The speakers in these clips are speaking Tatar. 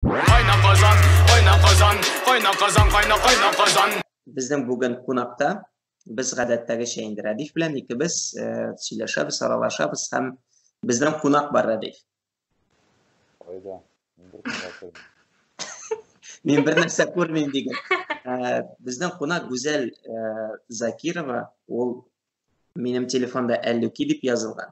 Кайна Казан, кайна Казан, кайна Казан, кайна кайна Казан. Безнең бүген кунакта без гадәттәгечә инде Рәдиф белән икебез э, сөйләшәбез, аралашабыз һәм безнең кунак бар Рәдиф. Кайда? Мин бер нәрсә күрмим диген. Э, безнең кунак Гүзәл э, Закирова, ул минем телефонда Әллүки дип язылган.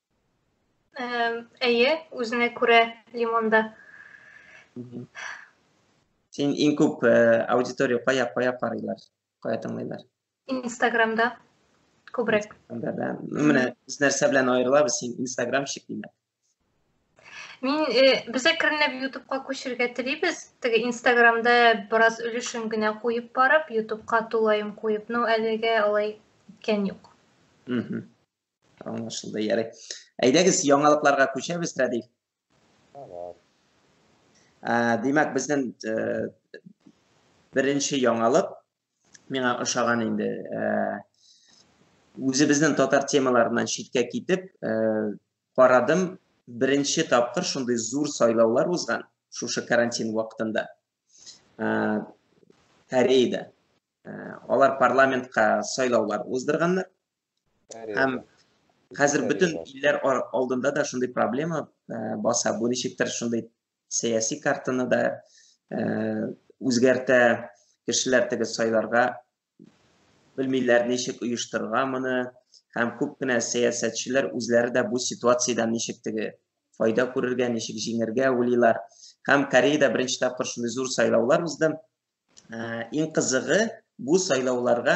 Әйе, үзенә күрә лимонда. Син иң күп аудитория кая кая карыйлар, кая тыңлыйлар? Инстаграмда күбрәк. Анда да. Менә без нәрсә белән аерылабыз, син инстаграмщик димәк. Мин без әкренләп ютубка күчергә телибез. Теге инстаграмда бераз өлешен генә куеп барып, ютубка тулаем куеп, но әлегә алай иткән юк. Аңлашылды, ярый. Әйдәгез, яңалыкларга күчәбез, Рәдиф. Димәк, безнең э, беренче яңалык миңа ошаган инде. Э, үзебезнең татар темаларыннан читкә китеп, э, карадым, беренче тапкыр шундый зур сайлаулар узган шушы карантин вакытында. Кореяда. Алар парламентка сайлаулар уздырганнар. Һәм хәзер бөтен илләр алдында да шундый проблема э, баса. Бу ничектер шундый сәяси картаны да э, үзгәртә. Кешеләр теге сайларга белмиләр, ничек оештырырга моны. Һәм күп кенә сәясәтчеләр үзләре дә бу ситуациядән ничек теге файда күрергә, ничек җиңергә уйлыйлар. Һәм Кореяда беренче тапкыр шундый зур сайлаулар узды. Иң кызыгы, бу сайлауларга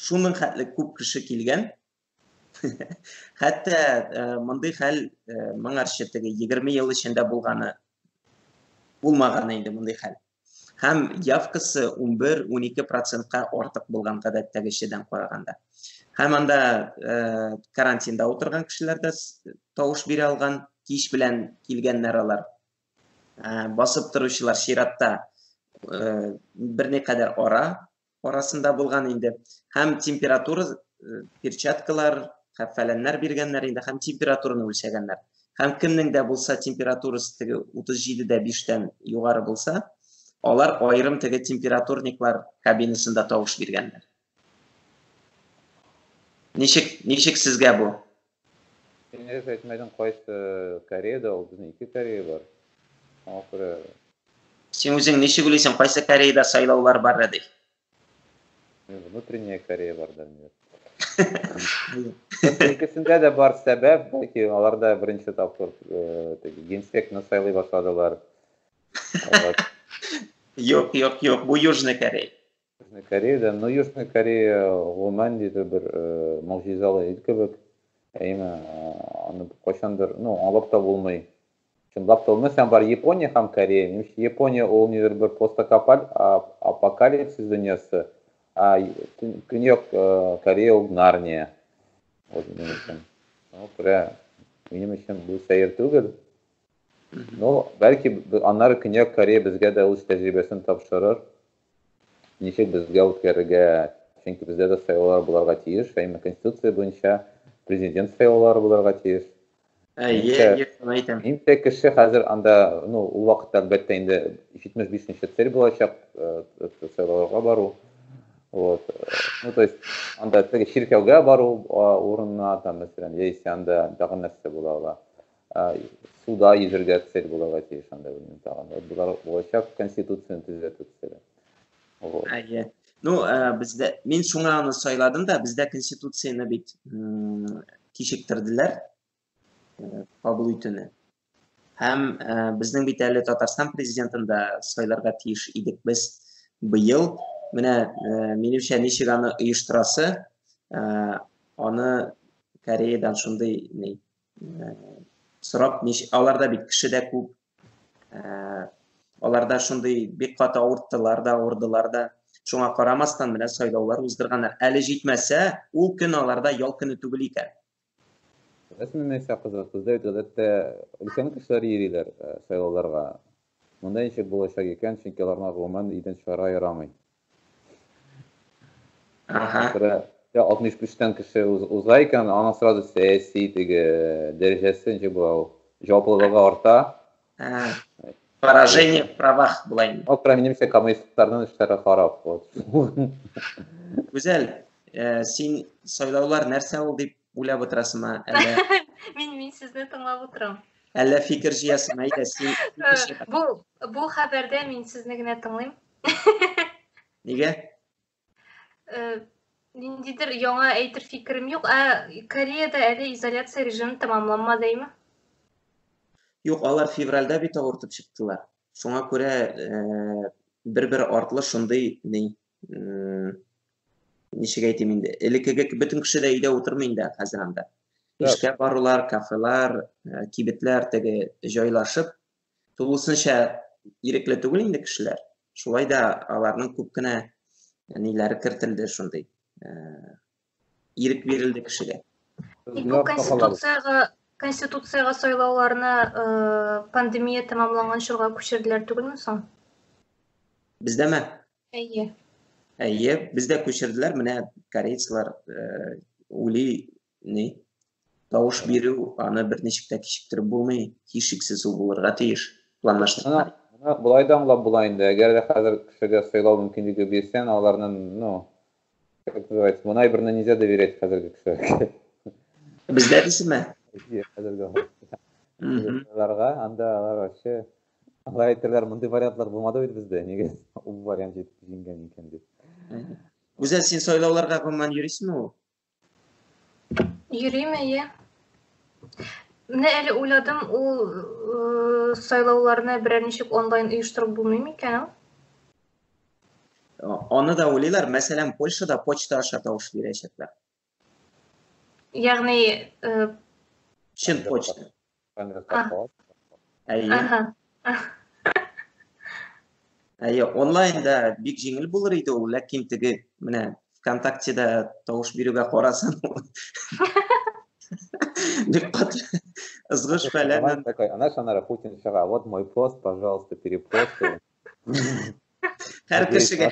шуның хәтле күп кеше килгән. Хәтта мондый хәл моңарчы теге 20 ел эчендә булганы булмаган инде мондый хәл. Һәм явкасы 11-12 процентка артык булган гадәттәгечедән караганда. Һәм анда карантинда утырган кешеләр дә тавыш бирә алган, кич белән килгәннәр алар. Басып торучылар чиратта берникадәр ара арасында булган инде. Һәм температура перчаткалар, һәм фәләннәр биргәннәр инде, һәм температураны үлчәгәннәр. Һәм кемнең дә булса температурасы теге 37 дә 5 тән югары булса, алар аерым теге температурниклар кабинасында тавыш биргәннәр. Ничек, ничек сезгә бу? Син дөрес әйтмәдең кайсы Кореяда ул безнең ике Корея бар. Шуңа күрә Син үзең ничек уйлыйсың, кайсы Кореяда сайлаулар бар, Рәдиф? Внутренняя Корея бар да инде. Икесендә дә бар сәбәп, бәлки аларда беренче тапкыр теге генсекны сайлый башладылар. Юк, юк, юк, бу Южный Корея. Южный Кореяда, ну, Южный Корея гомумән ниндидер бер э, могҗизалы ил кебек. Әйме, э, аны кайчандыр, ну, аңлап та булмый. Чынлап та булмый. Сән бар Япония һәм Корея. Нимчә Япония ул ниндидер бер постакапаль апокалипсис дөньясы. А Көньяк э, Корея ул Нарния. Вот минем өчен. Ну, күрә, минем өчен бу сәер түгел. Ну, бәлки аннары Көньяк Корея безгә дә үз тәҗрибәсен тапшырыр. Ничек безгә үткәрергә? Чөнки бездә дә сайлаулар буларга тиеш, әмма Конституция буенча президент сайлаулары буларга тиеш. Әйе, әйтәм. Инде кеше хәзер анда, ну, ул вакытта әлбәттә инде 75 нче цель булачак, сайлауларга бару. Вот. Ну, то есть, анда теге чиркәүгә бару урынына, там, мәсәлән, яисә анда тагын нәрсә була ала. суда йөзергә цель булырга тиеш анда белмим тагын вот болар булачак конституцияны төзәтү цели вот әйе ну ә, бездә мин шуңа аны сайладым да бездә конституцияны бит кичектерделәр кабул итүне һәм ә, безнең бит әле татарстан президентын да сайларга тиеш идек без быел менә ә, минемчә ничек аны оештырасы ә, аны кореядан шундый сорап аларда бит кеше дә күп аларда шундый бик каты авырттылар да авырдылар да шуңа карамастан менә сайлаулар уздырганнар әле җитмәсә ул көн аларда ял көне түгел икән рәсми нәрсә кызык бездә бит гадәттә өлкән кешеләр йөриләр сайлауларга Монда ничек булачак икән, чөнки аларга гомумән идән чыгарга ярамый. Аха. Бер 65 тан кеше уза икән, аның сразу сәяси теге дәрәҗәсе ничек була ул? Җаваплылыгы арта. Поражение в правах була инде. Ак минемчә коммунистларның эшләре харап. Гүзәл, син сайлаулар нәрсә ул дип Уйлап утырасыңмы әллә? Мин мин сезне тыңлап утырам. Әллә фикер җыясың, әйдә, син Бу бу хәбәрдә мин сезне генә тыңлыйм. Нигә? Э, ниндидер яңа әйтер фикерем юк. Ә Кореяда әле изоляция режимы тәмамланмадымы? Юк, алар февральдә бит авыртып чыктылар. Шуңа күрә э, бер-бер артлы шундый ни ничек әйтим инде элеккеге бөтен кеше дә өйдә утырмый инде хәзер анда эшкә барулар кафелар э, кибетләр теге җайлашып тулысынча ирекле түгел инде кешеләр шулай да аларның күп кенә ниләре кертелде шундый э, ирек бирелде кешегә тик бу конституцияга конституцияга сайлауларны э, пандемия тәмамланган чорга күчерделәр түгелме соң бездәме Әйе. Әйе, бездә күчерделәр, менә корейцлар ули ни тавыш бирү, аны бер ничек тә кичектереп булмый, һичшиксез ул булырга тиеш. Планлаштырган. Аны болай да аңлап була инде. Әгәр дә хәзер кешегә сайлау мөмкинлеге бирсәң, аларны, ну, как называется, бу наиберне нельзя доверять хәзерге кешеләргә. Бездә дисеме? Хәзерге. Анда алар вообще Алар әйтәләр, мондый вариантлар булмады бит бездә, нигә ул вариант җиңгән икән дип. Гүзәл, син сайлауларга гомумән йөрисеңме ул? Йөрим, әйе. Менә әле уйладым, ул э, сайлауларны берәр ничек онлайн оештырып булмый микән? Аны да уйлыйлар, мәсәлән, Польшада почта аша тавыш бирәчәкләр. Ягъни чын почта. Әйе. Әйе, онлайнда бик җиңел булыр иде ул, ләкин теге менә ВКонтактеда тавыш бирүгә карасын. Бик кат ызгыш фәлән. Такой, она шанара Путин чыга. Вот мой пост, пожалуйста, перепосты. Һәр кешегә.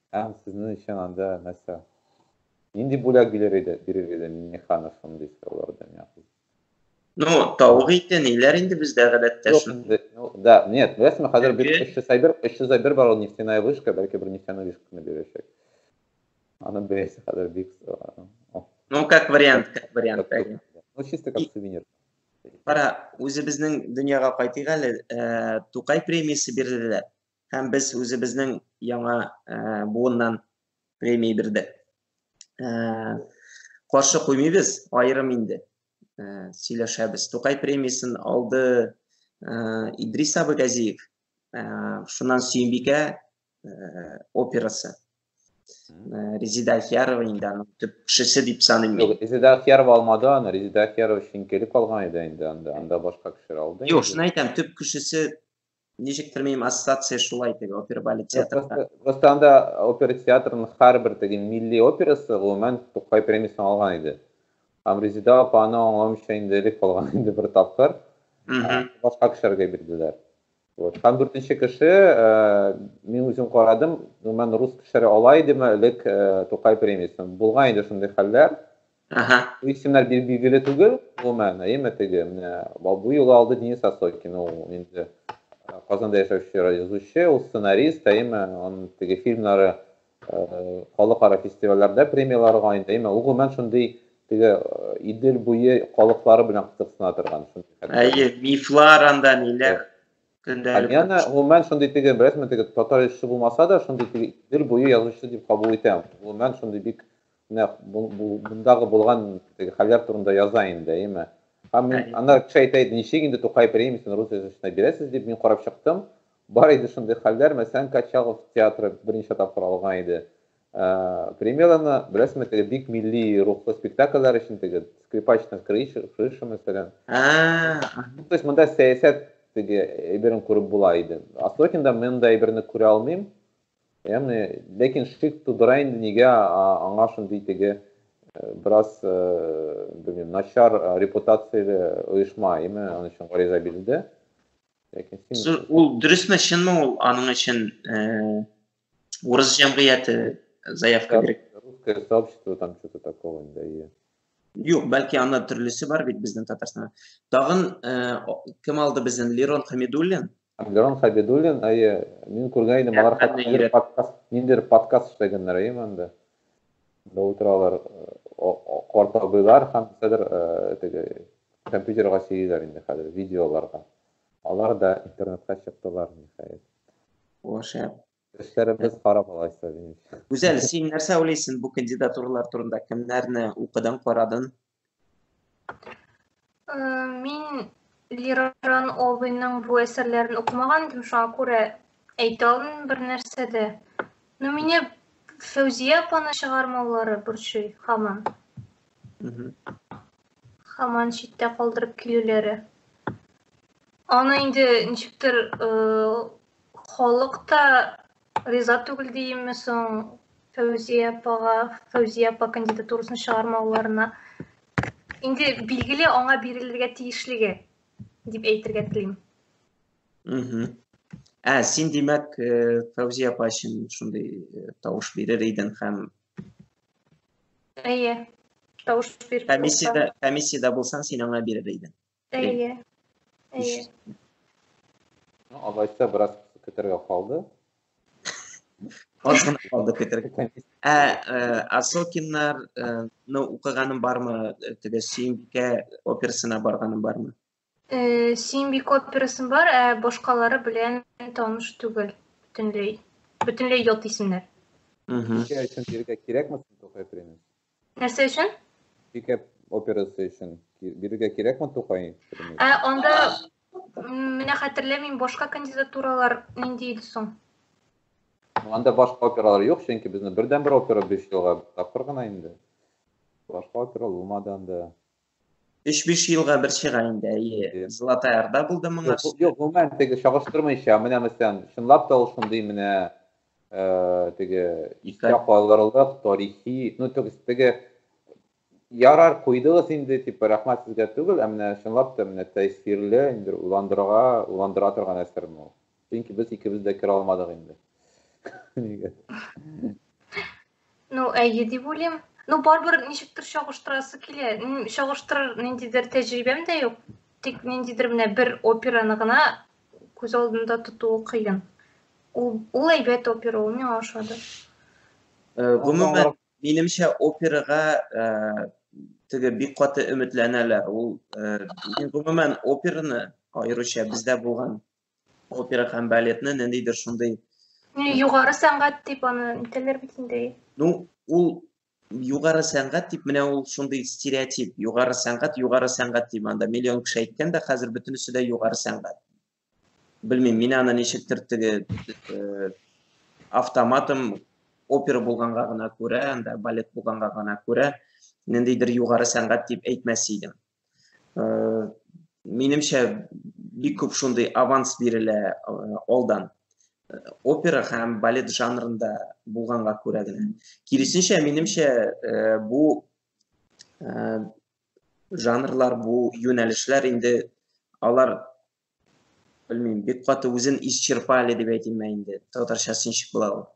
Һәм сезнең өчен анда нәрсә? Нинди бүләк бирер иде, бирер иде Миннеханов шундый сораулардан яхшы? Ну, тавык ите, ниләр инде бездә гадәттә шундый. Ну, да, нет, беләсезме, хәзер бит 301, 301 бар ул нефтяная вышка, бәлки бер нефтяная вышканы бирәчәк. Аны беләсе хәзер бик. Ну, как вариант, как вариант. Ну, чисто как сувенир. Кара, үзебезнең дөньяга кайтыйк әле. Тукай премиясе бирделәр. һәм без үзебезнең яңа буыннан премия бирдек. Каршы куймыйбыз, аерым инде сөйләшәбез. Тукай премиясен алды Идрис абы Газиев, шуннан Сөембикә операсы. Резида Ахиярова инде аның төп кешесе дип саныйм мин. Резида Ахиярова алмады аны, Резида Ахиярова шиңкелеп алган иде инде анда, анда башка кешеләр алды. Юк, шуны әйтәм, төп кешесе Ничектер минем ассоциация шулай теге опера балет театрда. Просто анда опера театрының һәрбер теге милли операсы гомумән Тукай премиясен алган иде. Һәм Резеда апа аны аңламыйча инде элек калган инде бер тапкыр. Башка кешеләргә бирделәр. Вот. Һәм дүртенче кеше, э, мин үзем карадым, гомумән рус кешеләре ала идеме элек э, Тукай премиясен. Булган иде шундый хәлләр. Ага. Бу исемнәр бил- билгеле түгел, гомумән, әйеме теге, менә ба- бу юлы алды Денис Осокин, ул инде э, Казанда яшәүче язучы, ул сценарист, әйеме, он теге фильмнары э, халыкара фестивальләрдә премияларга инде, әйеме, ул гомумән шундый теге э, Идел буе халыклары белән кызыксына торган. шундый хәтта. Әйе, мифлар анда ниләр көндәлек. Альяна гомумән шундый теге, беләсезме, теге татар язучысы булмаса да, шундый теге Идел буе язучысы дип кабул итәм. Гомумән шундый бик Нәкъ мондагы булган теге хәлләр турында яза инде, әйеме? Һәм мин, аннары кеше әйтә иде, ничек инде Тукай премиясен рус язучысына бирәсез дип, мин карап чыктым, бар иде шундый хәлләр, мәсәлән, Качалов театры берничә тапкыр алган иде премьераны, беләсезме, теге бик милли рухлы спектакльләр өчен теге скрипач над крышей, мәсәлән. Ну, то есть монда сәясәт теге әйберен күреп була иде. Осокинда мин монда әйберне күрә алмыйм, Яны, ләкин шик тудыра инде нигә аңа шундый теге э, бераз э, белмим, начар э, репутацияле оешма, әйме, аның өчен гариза бирелде. Ләкин син Ул дөресме, чынмы ул аның өчен урыс җәмгыяте заявка бирә? Русское сообщество там что-то такого инде, әйе. Юк, бәлки анда төрлесе бар бит безнең Татарстанда. Тагын кем алды безнең Лерон Хамидуллин? Абдерон Хабидуллин, әйе, мин күргән идем, алар хәтта ниндидер подкаст, ниндидер подкаст эшләгәннәр, әйе, монда. Да утыралар, карт абыйлар һәм хәзер теге компьютерга сөйлиләр инде хәзер, видеоларга. Алар да интернетка чыктылар, ниһаять. О, шәп. Эшләребез харап алайса, димче. Гүзәл, син нәрсә уйлыйсың бу кандидатуралар турында? Кемнәрне укыдың, карадың? Э, мин Лиран Олбинның бу әсәрләрен укымаган идем, шуңа күрә әйтә алмыйм бер нәрсә дә. Но мине Фәүзия апаны чыгармаулары борчый һаман. Һаман читтә калдырып килүләре. Аны инде ничектер э, халык та Риза түгел диеме соң Фәүзия апага, Фәүзия апа кандидатурасын чыгармауларына? Инде билгеле аңа бирелергә тиешлеге дип әйтергә телим. Угу. Ә, син димәк, э, Фәүзия апа өчен шундый э, тавыш бирер идең һәм Әйе. Тавыш биреп. Комиссиядә, комиссиядә булсаң, син аңа бирер идең. Әйе. Әйе. Алайса бераз көтәргә калды. Аз гына калды көтәргә. Ә Асокиннар ну укыганым бармы? Теге Сөембикә операсына барганым бармы? Э, Симбик операсын бар, ә башкалары белән таныш түгел. Бөтенләй, бөтенләй ят исемнәр. Ничә өчен бирергә кирәкме соң Тукай премиясе? Нәрсә өчен? Пикап операсы өчен бирергә кирәкме Тукай? Ә анда менә хәтерләмим, башка кандидатуралар нинди иде соң? Анда башка опералар юк, чөнки безне бердән бер опера биш елга тапкыр гына инде. Башка опера булмады анда. 3-5 елга бер чыга инде, әйе. Золотая Орда булды моңа. Юк, гомумән теге чагыштырмыйча, менә мәсәлән, чынлап та ул шундый менә э, теге искә калырлык тарихи, ну то есть теге ярар куйдыгыз инде, типа рәхмәт сезгә түгел, ә менә чынлап та менә тәэсирле, инде уландырырга, уландыра торган әсәрме ул? Чөнки без икебез дә керә алмадык инде. Нигә? Ну, әйе дип уйлыйм. Ну, барыбер ничектер чагыштырасы килә. Чагыштырыр ниндидер тәҗрибәм дә юк. Тик ниндидер менә бер операны гына күз алдында тотуы кыен. Ул, ул әйбәт опера, ул миңа ошады. Э, гомумән, минемчә, операга э, теге бик каты өметләнәләр. Ул, э, гомумән, операны аеруча бездә булган Опера һәм балетны ниндидер шундый югары сәнгать дип аны әйтәләр бит инде. Ну, ул югары сәнгать дип менә ул шундый стереотип. Югары сәнгать, югары сәнгать дип анда миллион кеше әйткән дә, хәзер бөтенесе дә югары сәнгать. Белмим, мин аны ничектер теге э, автоматым опера булганга гына күрә, анда балет булганга гына күрә, ниндидер югары сәнгать дип әйтмәс идем. Э, минемчә бик күп шундый аванс бирелә э, алдан э, опера һәм балет жанрында булганга күрә генә киресенчә минемчә бу жанрлар бу юнәлешләр инде алар белмим, бик каты үзен исчерпали дип әйтимме инде, татарчасы ничек була ул.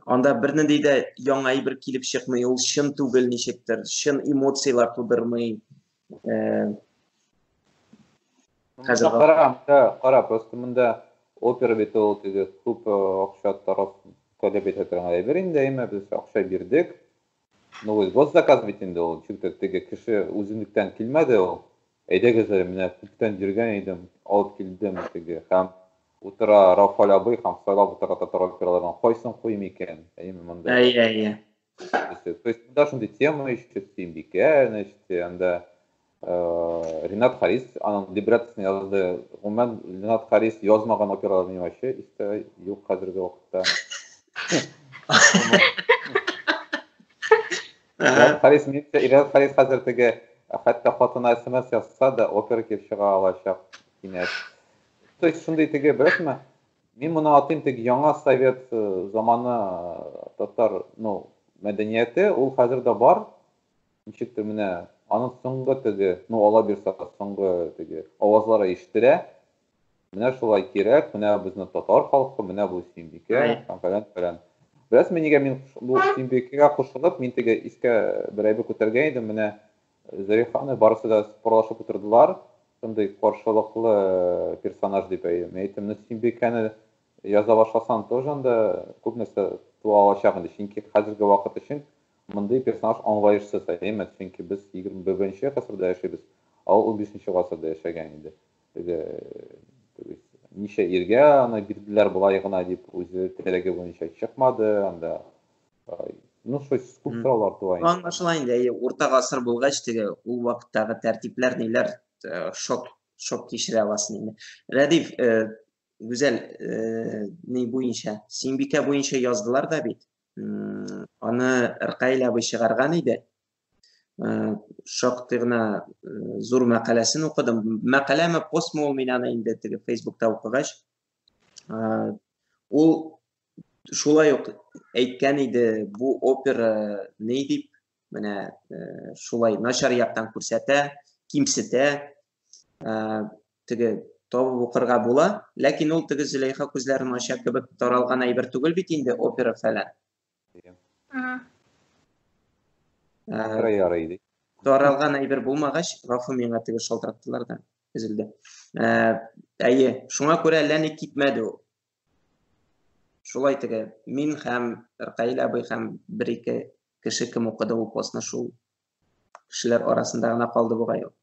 Анда бернинди дә яңа әйбер килеп чыкмый, ул чын түгел ничектер, чын эмоцияләр тудырмый. Э, хәзер кара, кара, просто монда опера бит ул теге күп э, акча тараф таләп итә торган әйбер инде, әмма без акча бирдек, Ну, вот, вот заказ бит инде ул, чүкте, теге кеше үзенлектән килмәде ул. Әйдәгез әле, менә күптән йөргән идем, алып килдем теге. Һәм утыра Рафаль абый һәм сайлап утыра татар операларының кайсын куйым икән? Әйеме монда? Әйе, әйе. То есть монда шундый тема ишетте, Бикә, значит, анда Ренат Харис, аның либреттосын язды. Гомумән, Ренат Харис язмаган операларны вообще истә юк хәзерге вакытта. Ренат Харис, минемчә, Ренат Харис хәзер теге, хәтта хатына смс язса да, опера килеп чыга алачак кинәт. То есть, шундый теге, беләсеңме, мин моны атыйм теге яңа совет заманы татар, ну, мәдәнияте, ул хәзер дә бар, Ничектер менә аның соңгы теге, ну Алла бирса, соңгы теге авазлары ишетелә. Менә шулай кирәк, менә безнең татар халкы, менә бу Сөембикә һәм фәлән фәлән. Беләсезме, нигә мин бу Сөембикәгә кушылып, мин теге искә бер әйбер күтәргән идем, менә Зарифаны барысы да спорлашып утырдылар. Шундый каршылыклы персонаж дип әйдем. Әйттем, ну Сөембикәне Яза башласаң тоже анда күп нәрсә туа алачак инде, чөнки хәзерге вакыт өчен мондый персонаж аңлаешсыз, әйеме? Чөнки без егерме беренче гасырда яшибез, ә ул унбишенче гасырда яшәгән иде. Теге, то есть, ничә иргә аны бирделәр болай гына дип, үзе теләге буенча чыкмады, анда ну что күп сораулар туа инде. Аңлашыла инде, әйе, урта гасыр булгач, теге ул вакыттагы тәртипләр ниләр шок шок кичерә аласың инде. Рәдиф, гүзәл э, ни буенча сиңбикә буенча яздылар да бит аны ркаил абый чыгарган иде э, шактый гына э, зур мәкаләсен укыдым мәкаләме постмы ул мин аны инде теге фейсбукта укыгач ул шулай ук әйткән иде бу опера ни дип менә шулай начар яктан күрсәтә кимсетә Теге, табып укырга була, ләкин ул теге Зөләйха күзләрен ача кебек таралган әйбер түгел бит инде, опера фәлән. Ага. Ярый, ярый, ди. Таралган әйбер булмагач, гафу миңа теге шалтыраттылар да, өзелде. Әйе, шуңа күрә әллә ни китмәде ул. Шулай теге, мин һәм Ркаил абый һәм бер-ике кеше кем укыды ул постны шул кешеләр арасында гына калды бугай ул.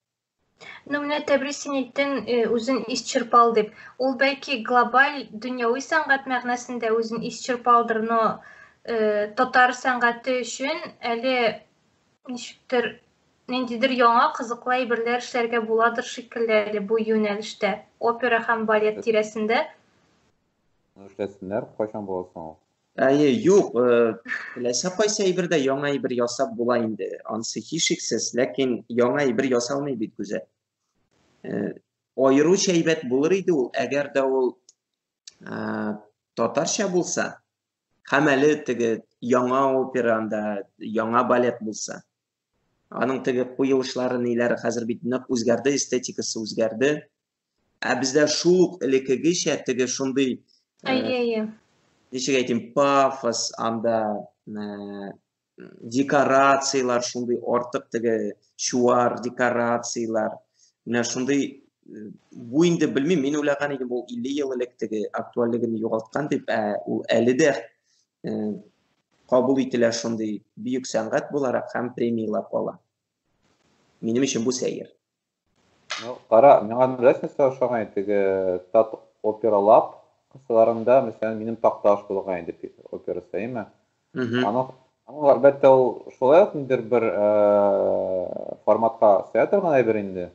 Ну, менә Тәбрис син әйттең, э, үзен исчерпал дип. Ул бәлки глобаль дөньяви сәнгать мәгънәсендә үзен исчерпалдыр, но э, татар сәнгате өчен әле ничектер ниндидер яңа кызыклы әйберләр эшләргә буладыр шикелле әле бу юнәлештә, опера һәм балет тирәсендә. Эшләсеннәр, кайчан буласың ул? Әйе, юк, теләсә кайсы әйбер дә яңа әйбер ясап була инде. Ансы һичшиксез, ләкин яңа әйбер ясалмый бит күзә. Аеруча әйбәт булыр иде ул, әгәр дә ул татарча булса, һәм әле теге яңа операнда, яңа балет булса. Аның теге куелышлары ниләр хәзер бит нык үзгәрде, эстетикасы үзгәрде. Ә бездә шул ук элеккегечә теге шундый Әйе, әйе. ничек әйтим, пафос анда э, декорацияләр шундый артык теге чуар декорацияләр. Менә шундый э, бу инде белмим, мин уйлаган идем ул 50 ел элек теге актуальлеген югалткан дип, ә ул әле дә э, кабул ителә шундый бөек сәнгать буларак һәм премияләп ала. Минем өчен бу сәер. Ну, кара, миңа беләс нәрсә ошаган иде, теге тат опералап кысаларында, мәсәлән, минем такта аш булган иде опера сәйме. Аның аның әлбәттә ул шулай ук ниндер бер форматка сәя торган әйбер инде.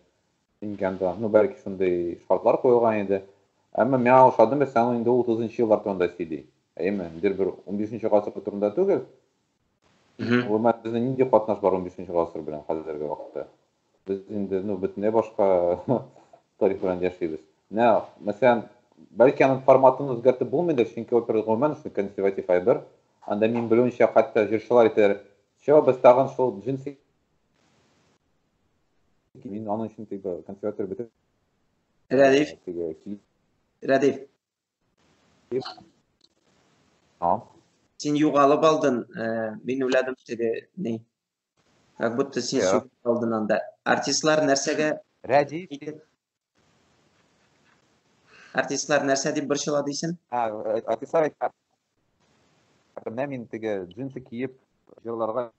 Инганда, ну, бәлки шундый шартлар куелган иде. Әмма миңа ошады, мәсәлән, ул инде 30 еллар турында сөйли. Әйме, ниндер бер 15 гасыр турында түгел. Ул мәсәлән, нинди катнаш бар 15 гасыр белән хәзерге вакытта? Без инде ну бөтенләй башка тарих белән яшибез. Менә, мәсәлән, бәлки аның форматын үзгәртеп булмыйдыр, чөнки опера гомумән шул консерватив әйбер. Анда мин белүемчә, хәтта җырчылар әйтәләр, "Чо, без тагын шул джинсы мин аның өчен тик консерватор бетеп Рәдиф. Рәдиф. А? Син югалып алдың, э, мин уйладым, теге ни. Как будто син yeah. сугып калдың анда. Артистлар нәрсәгә Рәди Артистлар нәрсә дип борчыла дисен? А, артистлар Менә мин теге джинсы киеп җырларга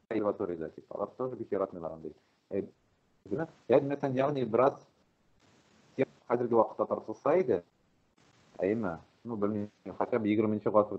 консерваториядә дип. Алар тоже бик яратмыйлар андый. Э, Ядмәсән, ягъни бераз хәзерге вакытта тартылса иде, әйме, ну, белмим, хотя бы 20 нче гасыр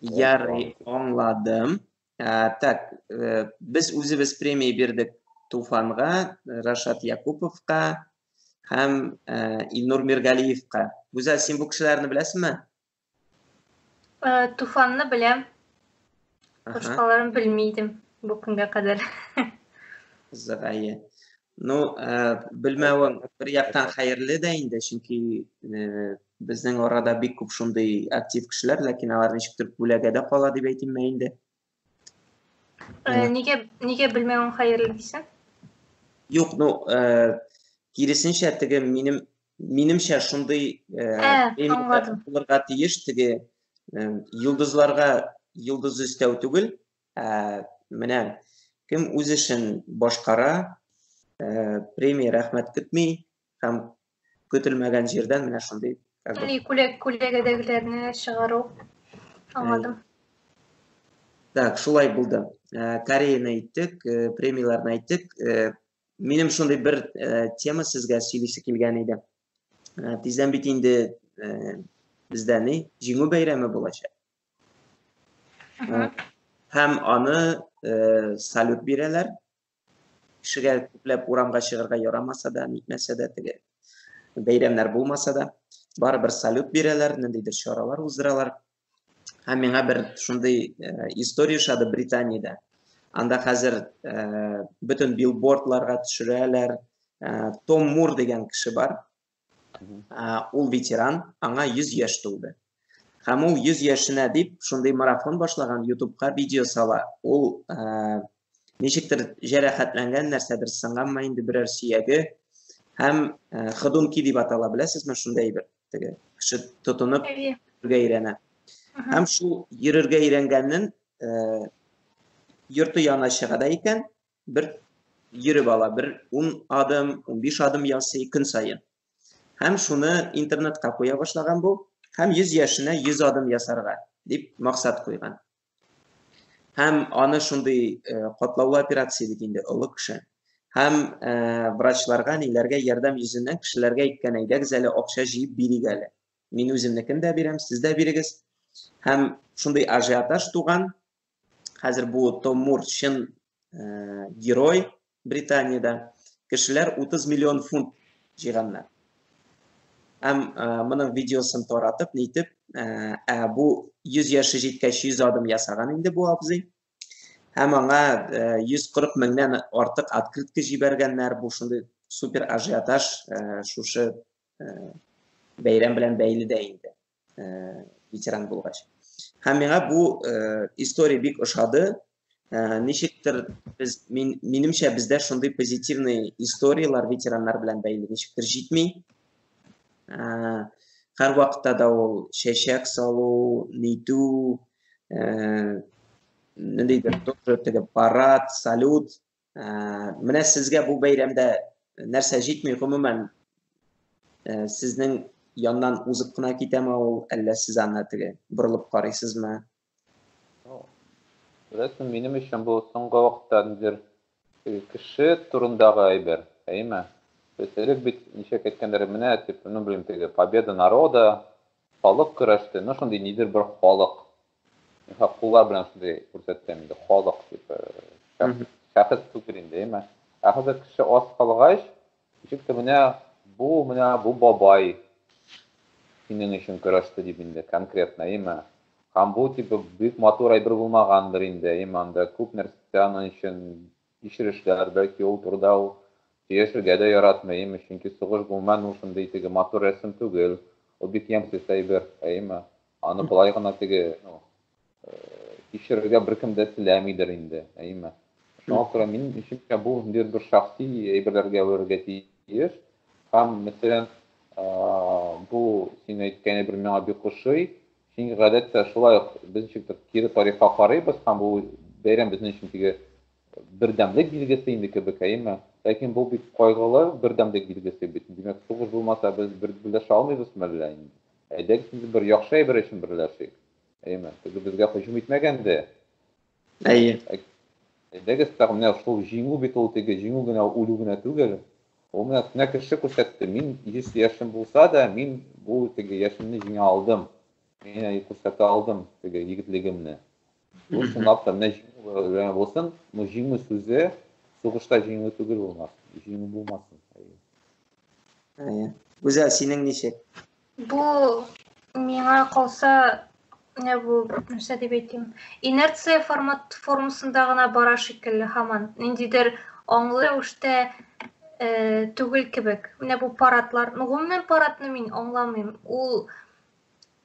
Ярый, аңладым. Ә, так, э, без үзебез премия бирдек Туфанга, Рашат Якуповка һәм э, Илнур Миргалиевка. Гүзәл, син бу кешеләрне беләсеңме? Э, Туфанны беләм. Башкаларын белмидем бу көнгә кадәр. Зырае. Ну, э, белмәвең бер яктан хәерле дә инде, чөнки э, безнең арада бик күп шундый актив кешеләр, ләкин алар ничектер күләгәдә кала дип әйтим мә инде. Э, нигә нигә белмәвең хәерле дисең? Юк, ну, э, киресенчә теге минем минемчә шундый э, ә, булырга тиеш теге э, йолдызларга йолдыз өстәү түгел, Ә, менә кем үз эшен башкара, ә, премия рәхмәт көтми һәм көтелмәгән җирдән менә шундый как бы, Күләк күләгәдәгеләрне чыгару. Аңладым. Так, шулай булды. Ә, Кореяны әйттек, ә, премияләрне әйттек. Ә, Минем шундый бер ә, тема сезгә сөйлисе килгән иде. Ә, Тиздән бит инде ә, бездә ни, җиңү бәйрәме булачак. Ага. Һәм аны э, салют бирәләр. Кешегә күпләп урамга чыгарга ярамаса да, нитмәсә дә, теге бәйрәмнәр булмаса да, барыбер салют бирәләр, ниндидер чаралар уздыралар. Һәм миңа бер шундый э, история ошады Британиядә. Анда хәзер э, бөтен билбордларга төшерәләр. Э, Том Мур дигән кеше бар. Ул ветеран, аңа 100 яшь тулды. Һәм ул 100 яшенә дип шундый марафон башлаган, ютубка видео сала. Ул ничектер җәрәхәтләнгән, нәрсәдер сынганмы инде берәр сөяге һәм ходунки дип атала, беләсезме, шундый әйбер. Теге кеше тотынып йөрергә өйрәнә. Һәм шул йөрергә өйрәнгәннән йорты янына чыга да икән, бер йөреп ала, бер 10 адым, 15 адым ясый көн саен. Һәм шуны интернетка куя башлаган бу, һәм 100 яшенә 100 адым ясарга дип максат куйган. Һәм аны шундый э, катлаулы операция бит инде олы кеше. Һәм э, врачларга, ниләргә ярдәм йөзеннән кешеләргә әйткән, әйдәгез әле акча җыеп бирик әле. Мин үземнекен дә бирәм, сез дә бирегез. Һәм шундый ажиотаж туган, Хәзер бу Том Мур чын э, герой Британиядә. Кешеләр 30 миллион фунт җыйганнар. Һәм э, моның видеосын таратып, нитеп, э, ә бу 100 яше җиткәч 100 адым ясаган инде бу абзый. Һәм аңа 140 меңнән артык открытка җибәргәннәр. Бу шундый супер ажиотаж шушы бәйрәм белән бәйле дә инде. ветеран булгач һәм миңа бу история бик ошады ничектер без мин минемчә бездә шундый позитивный историялар ветераннар белән бәйле ничектер җитми һәр вакытта да ул чәчәк салу нитү ниндидер тоже теге парад салют Ә, менә сезгә бу бәйрәмдә нәрсә җитми, гомумән, ә, сезнең яннан узып кына китәме ул, әллә сез аны теге борылып карыйсызмы? Беләсең, минем өчен бу соңгы вакытта нидер кеше турындагы әйбер, әйме? Без элек бит ничек әйткәннәр, менә дип, ну, белмим, теге победа народа, халык көрәште, ну, шундый нидер бер халык Мисал, куллар белән шундый күрсәтәм инде, халык дип. Шәхес түгел инде, әмма. Ә хәзер кеше аз калгач, ничек тә менә бу, менә бу бабай синең өчен көрәште дип инде конкретно, әйеме? Һәм бу тип бик матур әйбер булмагандыр инде, әйеме, анда күп нәрсә аның өчен Кичерешләр, бәлки ул турыда ул. Сөйләшергә дә яратмыйм, чөнки сугыш булман ул шундый теге матур рәсем түгел, ул бик ямьсез әйбер, әйеме? Аны болай гына теге, ну, кичерергә беркем дә теләмидер инде, әйеме? Шуңа күрә минем өченчә бу ниндидер бер шәхси әйберләргә әверергә тиеш. Һәм, мәсәлән, бу син әйткән әйбер миңа бик ошый, Чөнки гадәттә шулай ук без ничектер кире тарихка карыйбыз һәм бу бәйрәм безнең өчен теге бердәмлек билгесе инде кебек, әйеме? Ләкин бу бик кайгылы бердәмлек билгесе бит. Димәк, сугыш булмаса без берләшә алмыйбыз мәллә инде? Әйдәгез инде бер яхшы әйбер өчен берләшик, әйеме? Теге безгә һөҗүм итмәгәнде, Әйе. Әйдәгез тагы менә шул җиңү бит ул теге җиңү генә үлү генә түгел. Ул менә менә кеше күрсәтте. Мин 100 яшем булса да, мин бу теге яшемне җиңә алдым. Мин әй күрсәтә алдым теге егетлегемне. Бу чынлап та менә җиңү булсын. Бу җиңү сүзе сугышта җиңү түгел булмас. Җиңү булмасын. Әйе. Гүзәл, синең ничек? Бу миңа калса, менә бу нәрсә дип әйтим, инерция формат формасында гына бара шикелле һаман. Ниндидер аңлы рәвештә э, түгел кебек. Менә бу паратлар, ну гомумән паратны мин аңламыйм. Ул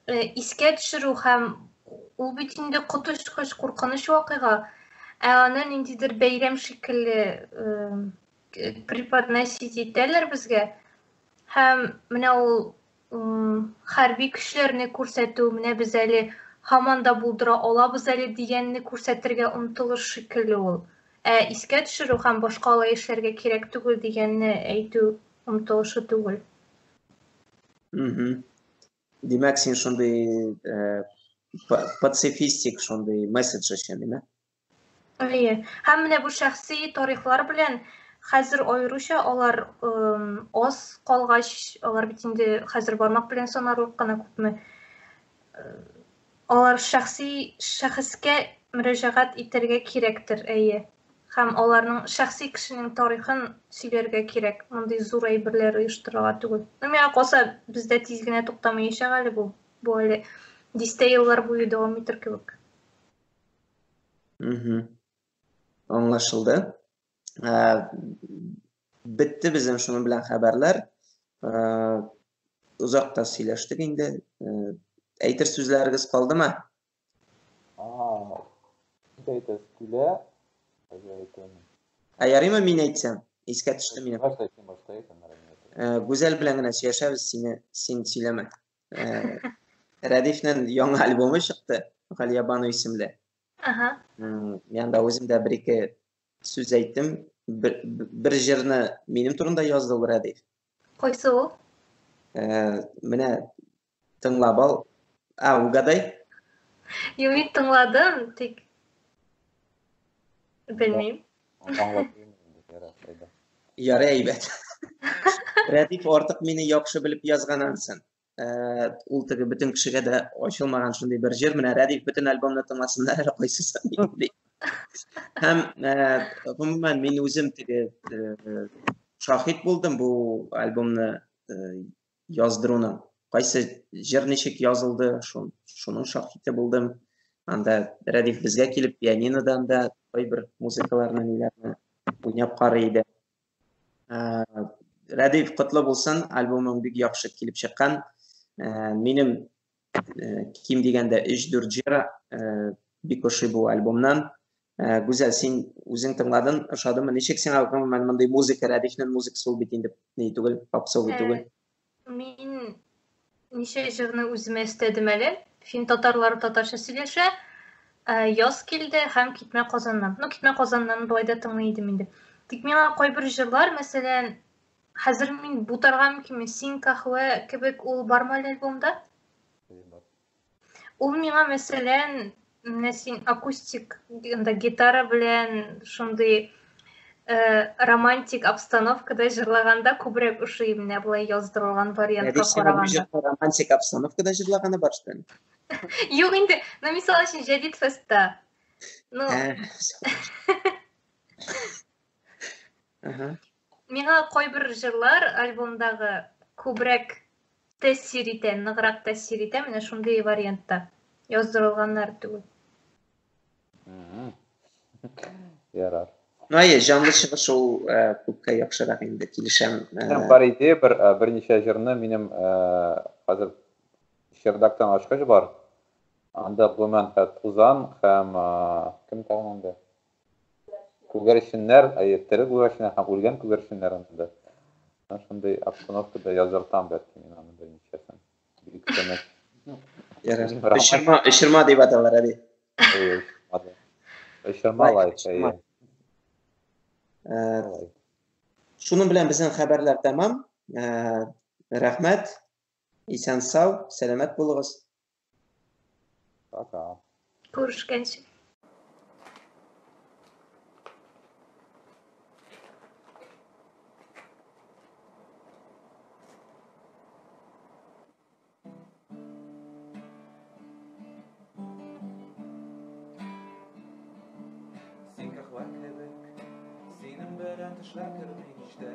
э, искә төшерү һәм ул бит инде коточкыч куркыныч вакыйга. Ә аны ниндидер бәйрәм шикелле э, преподносить итәләр безгә. Һәм менә ул хәрби көчләрне күрсәтү, менә без әле һаман да булдыра алабыз әле дигәнне күрсәтергә омтылыш шикелле ул. Ә искә төшерү һәм башка алай эшләргә кирәк түгел дигәнне әйтү омтылышы түгел. Димәк, син шундый э, пацифистик шундый месседж өчен, димәк? Әйе. Һәм менә бу шәхси тарихлар белән хәзер аеруча алар аз калгач, алар бит инде хәзер бармак белән санарлык кына күпме. Алар шәхси шәхескә мөрәҗәгать итәргә кирәктер, әйе. Һәм аларның шәхси кешенең тарихын сөйләргә кирәк, мондый зур әйберләр оештырырга түгел. Ну, миңа калса, бездә тиз генә туктамаячак әле бу. Бу әле дистә еллар буе дәвам итер кебек. Угу. Аңлашылды. Ә, бетте безнең шуның белән хәбәрләр. Ә, озак та сөйләштек инде. Ә, әйтер сүзләрегез калдымы? Ага. Әйтәс килә. Ә ярыймы мин әйтсәм? Искә төште минем. Башта әйтсәң, башта әйтәм. Гүзәл белән генә сөйләшәбез, сине син сөйләмә. Ә, Рәдифнең яңа альбомы чыкты, Галия Бану исемле. Ага. Мен да үзем дә бер ике сүз әйттем. Бер, бер җырны минем турында язды ул Рәдиф. Кайсы ул? Ә, менә тыңлап ал. А, угадай? Юк, мин тыңладым, тик белмим. Ярый әйбәт. Рәдиф артык мине яхшы белеп язган ансын. Э, ул теге бөтен кешегә дә ачылмаган шундый бер җыр. Менә Рәдиф бөтен альбомны тыңласыннар әле кайсысы ди. Һәм э, гомумән мин үзем теге э, шахид булдым бу альбомны яздыруны. Кайсы җыр ничек язылды, шун, шуның шаһиты булдым. Анда Рәдиф безгә килеп пианинодан да кайбер музыкаларны ниләрне уйнап карый иде. Ә, Рәдиф, котлы булсын, альбомың бик яхшы килеп чыккан. Ә, минем Э, ким дигәндә өч дүрт җыр э, бик ошый бу альбомнан э, гүзәл син үзең тыңладың ошадымы ничек сиңа гомумән мондый музыка рәдифнең музыкасы ул бит инде ни түгел попсовый түгел мин ничә җырны үземә өстәдем әле фин татарлары татарча сөйләшә яз килде һәм китмә казаннан ну китмә казаннан болай да тыңлый идем инде тик миңа кайбер җырлар мәсәлән Хәзер мин бутарга мөмкинме? Син кахвә кебек ул бармы әле альбомда? Ул миңа мәсәлән, менә син акустик анда гитара белән шундый э, романтик обстановкада җырлаганда күбрәк ошый менә болай яздырылган вариантка караганда. Романтик обстановкада җырлаганы бар шул. Юк инде, ну мисал өчен Җәдид фестта. Ну. Э, Миңа кайбер җырлар альбомдагы күбрәк тәэсир итә, ныграк тәэсир итә, менә шундый вариантта яздырылганнар түгел. Ярар. Ну, әйе, җанлы чыгыш ул э, күпкә яхшырак инде, килешәм. Э. Минем бар иде, бер э, берничә җырны минем хәзер Чердактан ачкыч бар. Анда гомумән хәт Тузан һәм кем тагын анда? Күгәрченнәр, әйе, тере күгәрченнәр һәм үлгән күгәрченнәр анда. Менә шундый обстановкада яздыртам бәлки мин аны беренчесен. Бик тыныч. Ярар. Өчерма, өчерма дип аталар, әби. Әйе, өчерма да. Өчерма лайк, әйе. Э, Лайк. Шуның белән безнең хәбәрләр тәмам. Э, Рәхмәт. Исән сау, сәламәт булыгыз. Пока. Күрешкәнче. Син кәхвә кебек, синең белән төшләр керми һич тә.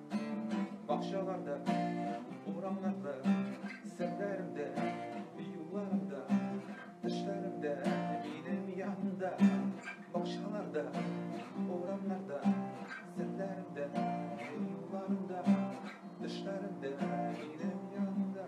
Бакчаларда, урамнарда, серләрдә, юлларда, төшләрдә, минем янда. Бакчаларда, урамнарда, серләрдә, юлларда, төшләрдә, минем янда.